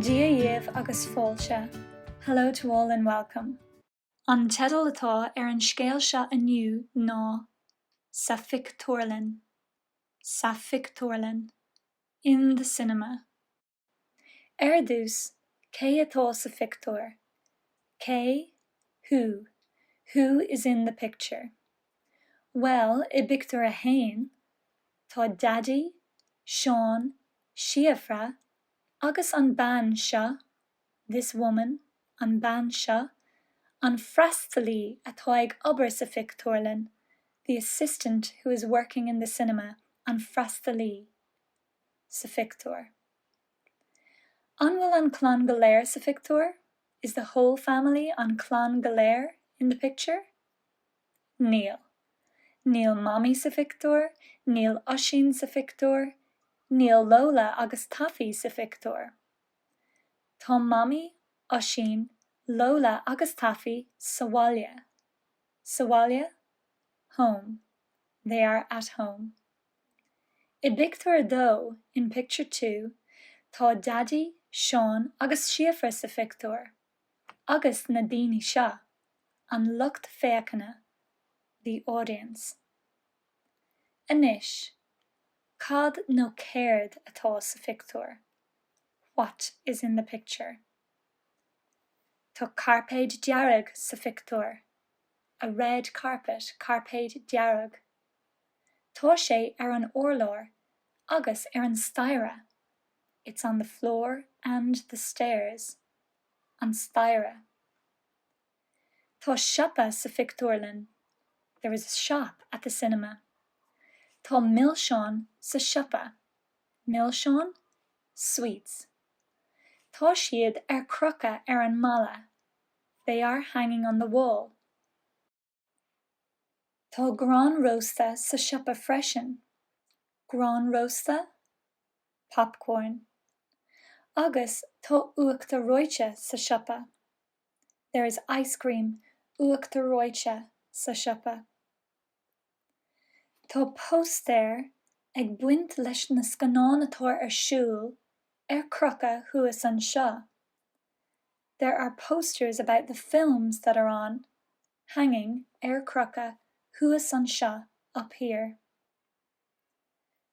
Dia dhiabh agus fáilte, Hello to all and welcome. An teideal atá ar an scéal seo inniu ná Sa Phictiúrlann, Sa Phictiúrlann, In the Cinema. Ar dtús, cé atá sa phictiúr? Cé, who, who is in the picture? Bhuel, i bpictiúr a haon, tá Daidí, Seán, Síofra agus an bean seo, this woman, an bean seo, an freastalaí atá ag obair sa phictiúrlann, the assistant who is working in the cinema, an freastalaí. sa phictiúr. An bhfuil an clann go léir sa phictiúr? Is the whole family an clann go léir in the picture? Níl. Níl Mamaí sa phictiúr, níl Oisín sa phictiúr, níl Lóla agus Taffy sa phictiúr. Tá Mamaí, Oisín, Lóla agus Taffy sa bhaile. Sa bhaile? Home. They are at home. I bpictiúr a dó, in picture two, tá Daidí, Seán agus Síofra sa phictiúr, agus na daoine seo, an lucht féachana, the audience. Anois, cad nó céard atá sa phictiúr? What is in the picture? Tá cairpéad dearg sa phictiúr, a red carpet, cairpéad dearg. Tá sé ar an urlár agus ar an staighre, it's on the floor and the stairs. an staighre. Tá siopa sa phictiúrlann, there is a shop at the cinema. Tá milseáin sa siopa, milseáin, sweets. Tá siad ar crochadh ar an mballa, they are hanging on the wall. Tá grán rósta sa siopa freisin, grán rósta, popcorn, agus tá uachtar reoite sa siopa, there is ice cream, uachtar reoite, sa siopa. Tá póstaeir ag baint leis na scannáin atá ar siúl ar crochadh thuas anseo. There are posters about the films that are on, hanging, ar crochadh, thuas anseo, up here.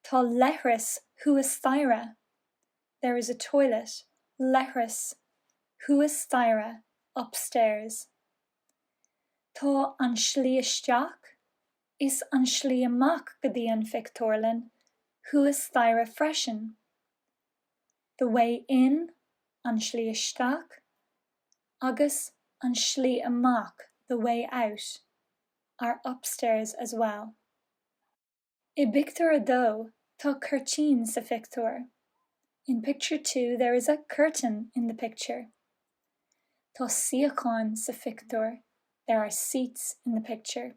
Tá leithreas thuas staighre. There is a toilet, leithreas, thuas staighre, upstairs. Tá an slí isteach is an slí amach go dtí an phictiúrlann thuas staighre freisin. the way in, an slí isteach, agus an slí amach, the way out, are upstairs as well. I bpictiúr a dó, tá cuirtín sa phictiúr. In picture two there is a curtain in the picture. Tá suíocháin sa phictiúr, there are seats in the picture.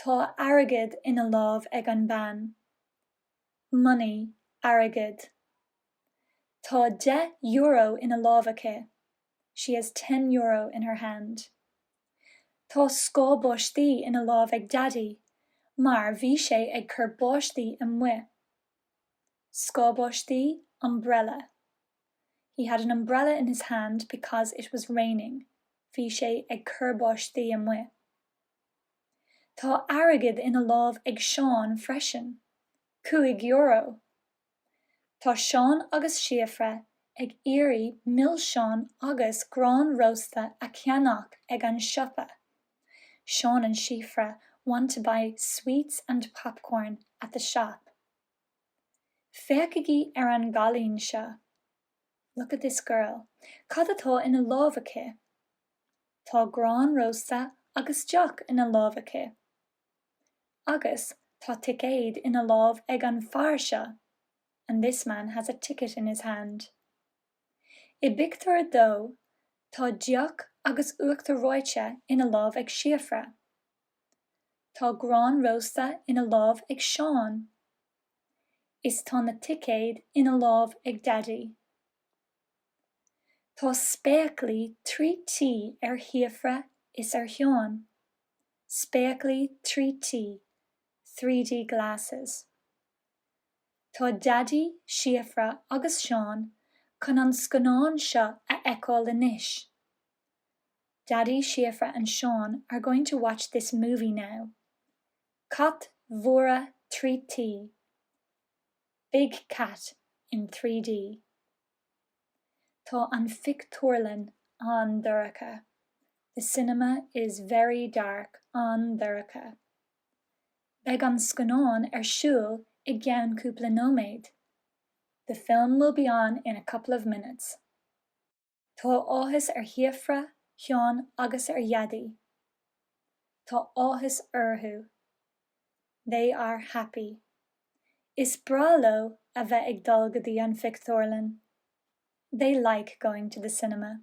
Tá airgead ina lámh ag an bean. Money, airgead. Tá deich euro ina lámh aici, she has ten euro in her hand. Tá scáth báistí ina lámh ag Daidí mar bhí sé ag cur báistí amuigh. Scáth báistí, umbrella. He had an umbrella in his hand because it was raining. Bhí sé ag cur báistí amuigh. Tá airgead ina lámh ag Seán freisin, cúig euro. Tá Seán agus Síofra ag iarraidh milseáin agus grán rósta a cheannach ag an siopa, Seán and Síofra want to buy sweets and popcorn at the shop. Féachaigí ar an gcailín seo. Look at this girl. Cad atá ina lámh aici? Tá grán rósta agus deoch ina lámh aici. Agus, tá ticéad ina lámh ag an bhfear seo. And this man has a ticket in his hand. I bpictiúr a dó, tá deoch agus uachtar reoite ina lámh ag Síofra. Tá grán rósta ina lámh ag Seán. is tá na ticéid ina lámh ag Daidí. Tá spéaclaí trí T ar Shíofra is ar Sheán. Spéaclaí trí T, three D glasses. Tá Daidí, Síofra agus Seán chun an scannán seo a fheiceáil anois. Daidí, Síofra and Seán are going to watch this movie now. Cat mór trí D, big cat in three D. Tá an phictiúrlann an-dorcha, the cinema is very dark, an-dorcha. Beidh an scannán ar siúl i gceann cúpla nóiméad, the film will be on in a couple of minutes. Tá áthas ar Shíofra, Sheán agus ar Dhaidí. Tá áthas orthu. They are happy. Is breá leo a bheith ag dul go dtí an phictiúrlann. They like going to the cinema.